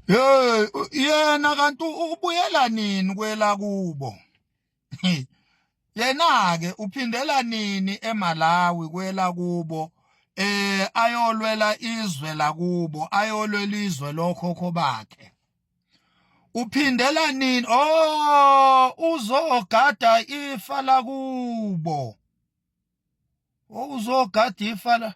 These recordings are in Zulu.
Hey yena kanti ubuyela nini kwela kubo? Yena ke uphindela nini eMalawi kwela kubo? Eh ayolwela izwe lakubo, ayolwela izwe lokhokho bakhe. Uphindela nini? Oh uzogada ifa lakubo. wawuzogada ifa la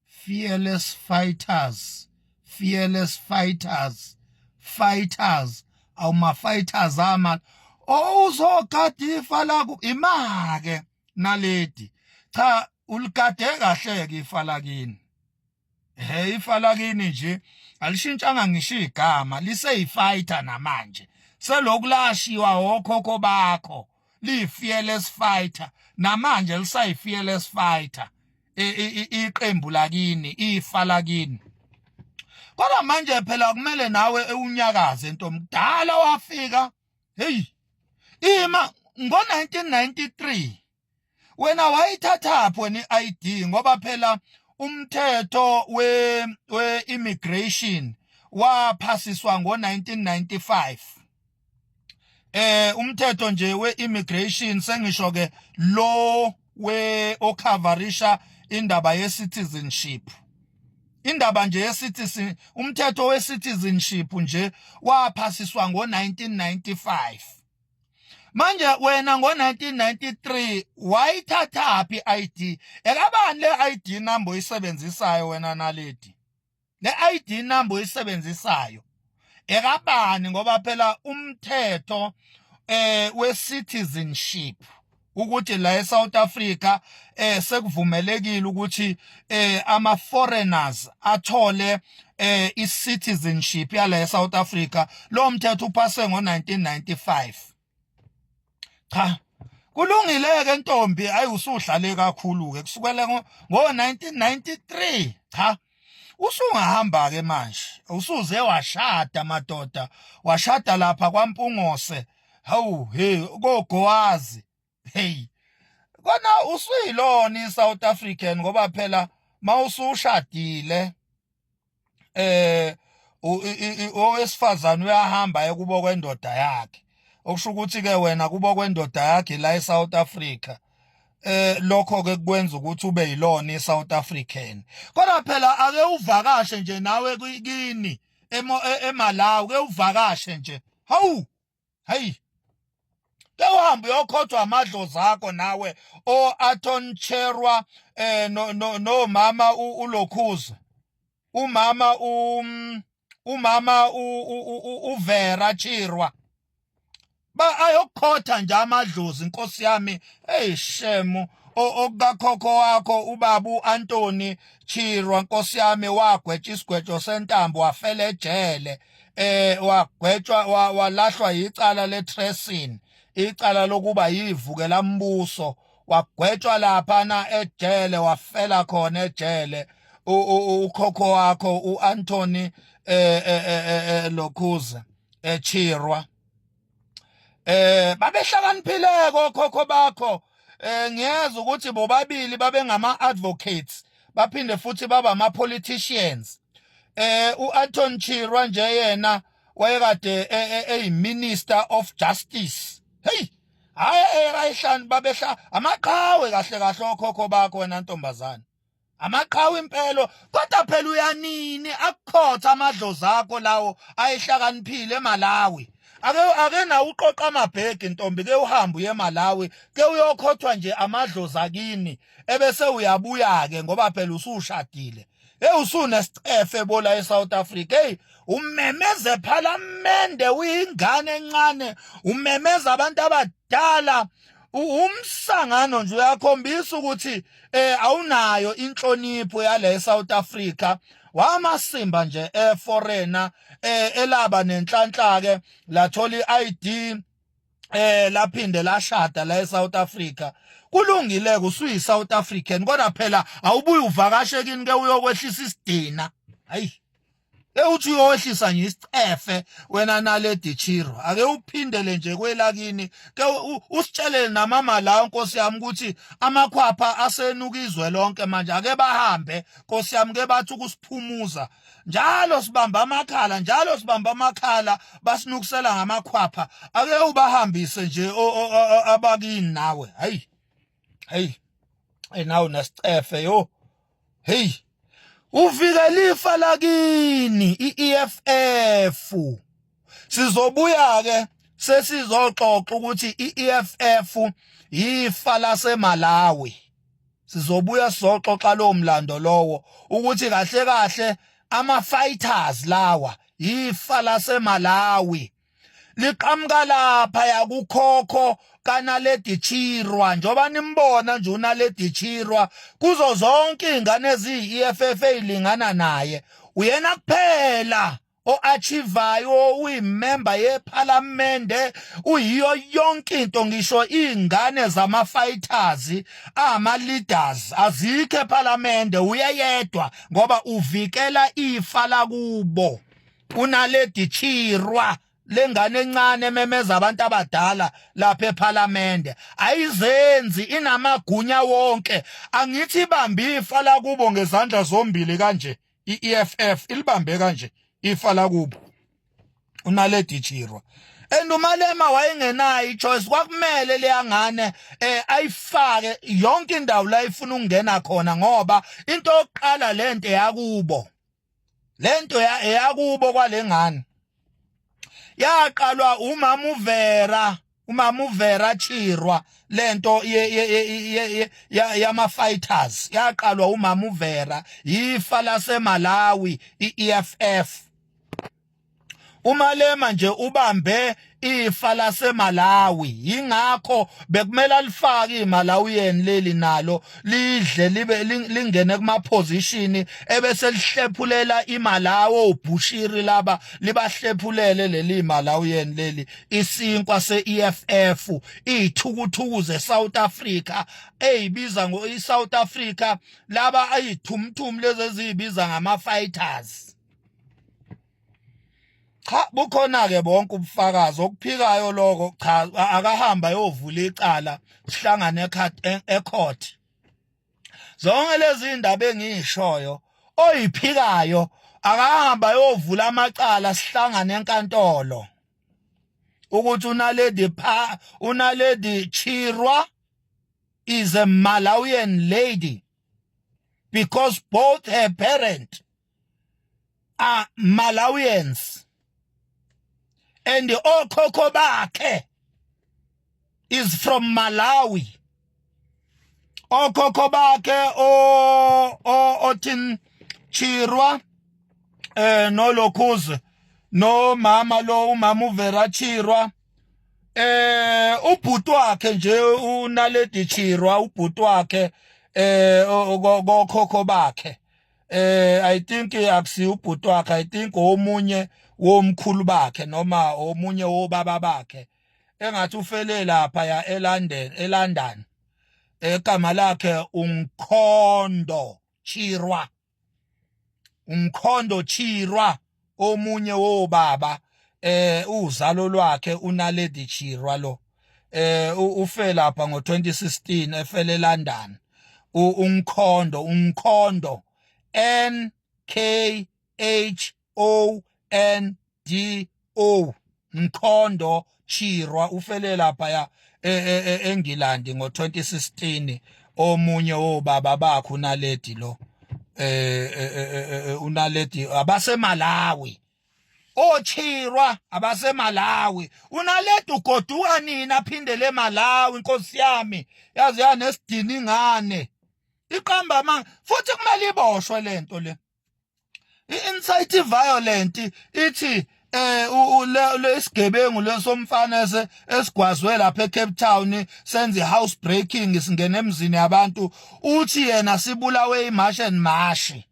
fearless fighters fearless fighters fighters awuma fighters ama owuzogada ifa laku imake naledi cha uligade kahle ke ifa lakini Hey ifa lakini nje alishintshanga ngisho igama liseyifighter namanje selokhu lashiwa okhokho bakho liyi-fearless fighter namanje lisayi-fearless fighter iqembu lakini ifa lakini kodwa manje phela kumele nawe ewunyakaze nto mdala wafika heyi ima ngo-1993 wena wayithathaphi wena i-ID ngoba phela umthetho we we immigration waphasiswa ngo-1995 eh umthetho nje we-immigration sengisho ke lo we okhavarisha indaba ye-citizenship indaba nje yesithizi umthetho wesithizinship nje waphasiswa ngo-1995 manje wena ngo-1993 wayithathaphi i-id ekabani le-id number oyisebenzisayo wena naledi le-id number oyisebenzisayo ekabani ngoba phela umthetho eh we-citizenship ukuthi la eSouth Africa eh sekuvumelekile ukuthi eh ama foreigners athole eh i citizenship yala eSouth Africa lo mthetho uphase ngo1995 cha kulungile ke ntombi ayi usuhlale kakhulu ke kusukela ngo 1993 cha usungahamba ke manje usuze washada madoda washada lapha kwampungose hawu hey kogowazi hey kona usuyilona iSouth African ngoba phela mawusushadile eh owesifazane uyahamba ekubo kwendoda yakhe okusho ukuthi ke wena kubo kwendoda yakhe la eSouth Africa eh lokho ke kwenza ukuthi ube yilona iSouth African kodwa phela ake uvakashe nje nawe kini e, eMalawi ke uvakashe nje hawu hayi ke uhambe uyokhothwa amadlozi akho nawe o Aton Cherwa eh no no mama ulokhuza umama um umama uVera Chirwa ba ayokhotha nje amadlozi inkosi yami hey shemu okukakhokho wakho ubabu Anthony Chirwa nkosi yami wagwetsha isigwejo sentambo wafela ejele eh wagwetshwa walahlwa yicala le tracing icala lokuba yivukela mbuso wagwetshwa lapha na ejele wafela khona ejele ukhokho wakho uAnthony eh, eh, eh, lokhuza echirwa eh babehlakaniphile kokhokho bakho eh ngiyeza ukuthi bobabili babengama advocates baphinde futhi baba ama politicians eh uAnton Chirwa nje yena wayekade eyiminister e, e, of justice hey hayi eyebayihlanu babehla amaqhawe kahle kahle okhokho bakho wena ntombazane amaqhawe impelo kodwa phela uyanini akukhotha amadlozi akho lawo ayihlakaniphile eMalawi ake ake na uqoqa amabhegi ntombi ke uhamba uye eMalawi ke uyokhothwa nje amadlozi akini ebese uyabuya ke ngoba phela usushadile hey usuna sicefe bola eSouth Africa hey umemeza ephalamende uyingane encane umemeza abantu abadala umsangano nje uyakhombisa ukuthi eh awunayo inhlonipho yale eSouth Africa wamasimba nje eforeigner eh elaba nenhlanhla ke lathola iID eh laphinde lashada la eSouth Africa kulungile kusuyi South African kodwa phela awubuye uvakashe kini ke uyokwehlisa isidina hayi ewuthi uyowehlisa nje isicefe wena naledi chiro ake uphindele nje kwelakini ke usitshelele namama la nkosi yami ukuthi amakhwapha asenuka izwe lonke manje ake bahambe nkosi yami ke bathi ukusiphumuza njalo sibamba amakhala njalo sibamba amakhala basinukusela ngamakhwapha ake ubahambise nje abakini nawe hey hey hey nawe nasicefe yo hey uvikela ifa lakini iEFF sizobuya ke sesizoxoxa ukuthi iEFF yifa laseMalawi sizobuya sizoxoxa lowo mlando lowo ukuthi kahle kahle ama fighters lawa yifa laseMalawi liqhamuka lapha yakukhokho kanaledi chirwa njoba nimbona nje unaledi chirwa kuzo zonke izingane eziyi-eff elingana naye uyena kuphela o-achivayo uyimemba yephalamende uyiyo yonke into ngisho iy'ngane zama-fighters ama-leaders azikho ephalamende uyeyedwa ngoba uvikela ifa lakubo unaledi chirwa lengane encane ememeza abantu abadala lapha ephalamende ayizenzi inamagunya wonke angithi ibambe ifa lakubo ngezandla zombili kanje i-EFF ilibambe kanje ifa lakubo unaledi chirwa and umalema wayengenayo ichoice kwakumele leyangane eh ayifake yonke indawo la ifuna ukungena khona ngoba into yokuqala lento yakubo lento yakubo kwalengane yaqalwa umama uvera umama uvera chirwa lento yama fighters yaqalwa umama uvera yifa lasemalawi i-eff umalema nje ubambe ifa lasemalawi yingakho bekumele alifake imalawiyeni leli nalo lidle libe lingene kuma position ebese lihlephulela imalawo ubhushiri laba libahlephulele leli malawiyeni leli isinkwa se-EFF iyithukuthuku ze-South Africa eyibiza ngo i-South Africa laba ayithumthum lezi eziyibiza ngama-fighters cha bukhona ke bonke ubufakazi okuphikayo lokho cha akahamba yovula icala sihlangane ecourt zonke lezi indaba engiyishoyo oyiphikayo akahamba yovula amacala sihlangane enkantolo ukuthi unaledi pha unaledi chirwa is a malawian lady because both her parent are Malawians and okhokho bakhe is from Malawi okhokho bakhe o othin Chirwa eh no Lokhuze no mama lo umama uVera Chirwa eh ubhuti wakhe nje unaledi Chirwa ubhuti wakhe eh kokhokho bakhe eh i think akusi ubhuti wakhe i think omunye womkhulu bakhe noma omunye wobaba bakhe engathi ufele lapha ya eLondon eLondon egama lakhe uMkhondo Chirwa uMkhondo Chirwa omunye wobaba eh uzalo lwakhe unaledi chirwa lo eh ufe lapha ngo2016 efele eLondon umkhondo umkhondo N K H O N D O Mkhondo Chirwa ufele lapha ya e, e, e, eNgilandi e, e, ngo-2016 omunye wobaba bakhe unaledi lo eh, eh, eh, eh unaledi abasemalawi ochirwa abasemalawi unaledi ugoduka nini aphindele emalawi inkosi yami yazi yanesidini ingane iqamba ama futhi kumele iboshwe lento le i-insight violent ithi eh lesigebengu lesomfana esigwazwe lapha eCape Town senze house breaking singena emzini yabantu uthi yena sibulawe imash and mashi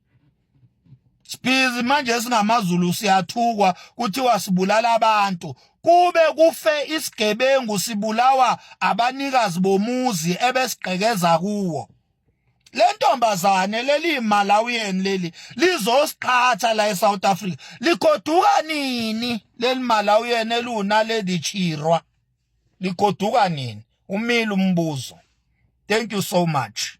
Sibhizi manje singamaZulu siyathukwa kuthiwa sibulala abantu kube kufe isigebengu sibulawa abanikazi bomuzi ebesigqekeza kuwo lentombazane leli Malawian leli lizosiqhatha la eSouth Africa ligoduka nini leli Malawian eluna lady chirwa ligoduka nini umile umbuzo thank you so much